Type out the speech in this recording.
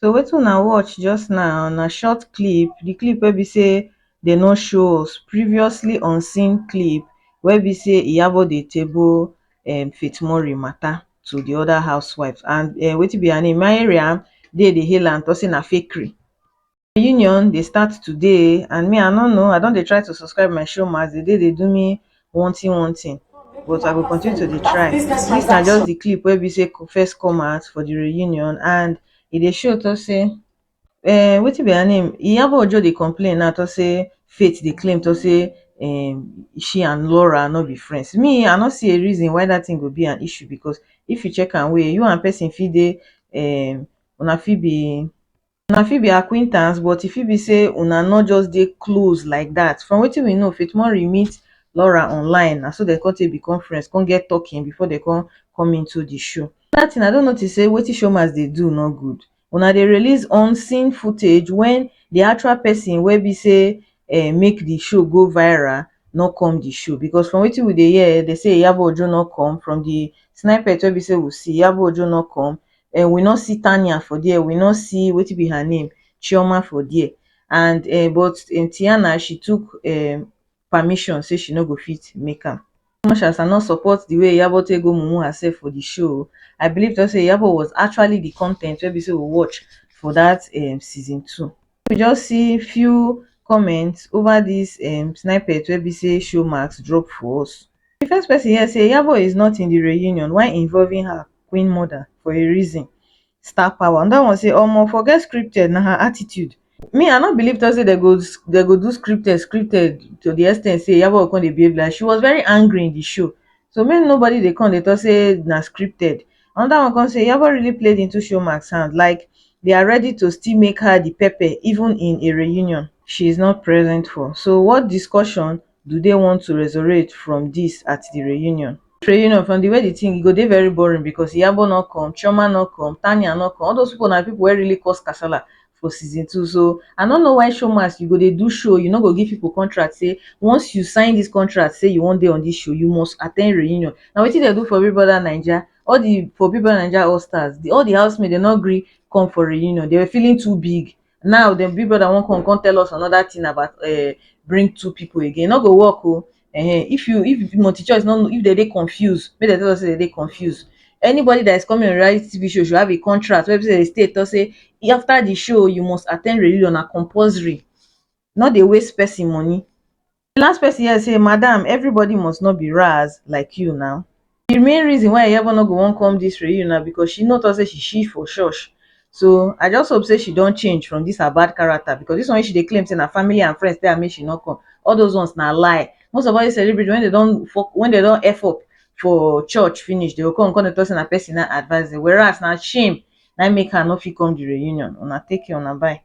So wetin una watch just now na short clip, the clip wey be say they no show us, previously unseen clip wey be say Iyabo dey table um Faith Murray matter to the other housewives and um wetin be her name Mariam dey dey hail am talk say na fakery. Reunion dey start today and me I no know I don dey try to subscribe my showmax, they dey dey do me one thing one thing but I go continue to dey try. Dis na just the clip wey be say first come out for the reunion and e dey show talk say um wetin be her name Iyabo Ojo dey complain now talk say Faith dey claim talk say um she and Laura no be friends me I no see a reason why that thing go be an issue because if you check am well you and person fit dey um una fit be una fit be acquaintance but e fit be say una no just dey close like dat. From wetin we know, Faith Murray meet Laura online, na so dem come take become friends, come get talking before dem come come into di show. Another thing, I don notice say wetin showmax dey do no good. Una dey release unseen footage when di actual person wey be say um make di show go viral no come di show because from wetin we dey hear, dem say Iyabo Ojo no come, from di snipet wey be say we see, Iyabo Ojo no come, um we no see Tania for there, we no see wetin be her name Chioma for there and um but um Tiana she took um permission say she no go fit make am. As much as I no support the way Iyabo take go mumu herself for the show, I believe just say Iyabo was actually the content wey be say we watch for that um season two. we just see few comments over this um snippet wey be say showmax drop for us the first person here say yabo is not in the reunion why involving her queen mother for a reason star power another one say omo forget scripted na her attitude me i no believe thought say they go they go do scripted scripted to the extent say yabo go come dey behave like she was very angry in the show so make nobody dey come dey talk say na scripted another one come say Iyabo really played into Showmax hand like they are ready to still make her the pepper even in a reunion she is not present for so what discussion do they want to resurrect from this at the reunion. Reunion from the way the thing e go dey very boring because Iyabo no come, Chioma no come, Tania no come all those people na people wey really cause kasala for season two so I no know why showmas you go dey do show you no go give people contract say once you sign this contract say you wan dey on this show you must attend reunion na wetin dem do for Big Brother Naija all the for Big Brother Naija All Stars the all the housemates dem no gree come for reunion they were feeling too big now dem Big Brother wan come come tell us another thing about um bring two people again e no go work o um if you if the multi choice no if dem dey confused make dem tell us say dem dey confused anybody that is coming on reality TV show should have a contract wey be say the state talk say after the show you must attend reunion na compulsory no dey waste person money the last person here say madam everybody must not be raz like you now the main reason why Iyabo no go wan come this reunion na because she no talk say she shift for church so I just hope say she don change from this her bad character because this one wey she dey claim say na family and friends tell am make she no come all those ones na lie most of all these celebrities when they don fuck when they don F up for church finish they go come come dey talk say na person na advice them whereas na shame na im make her no fit come the reunion una take care una bye.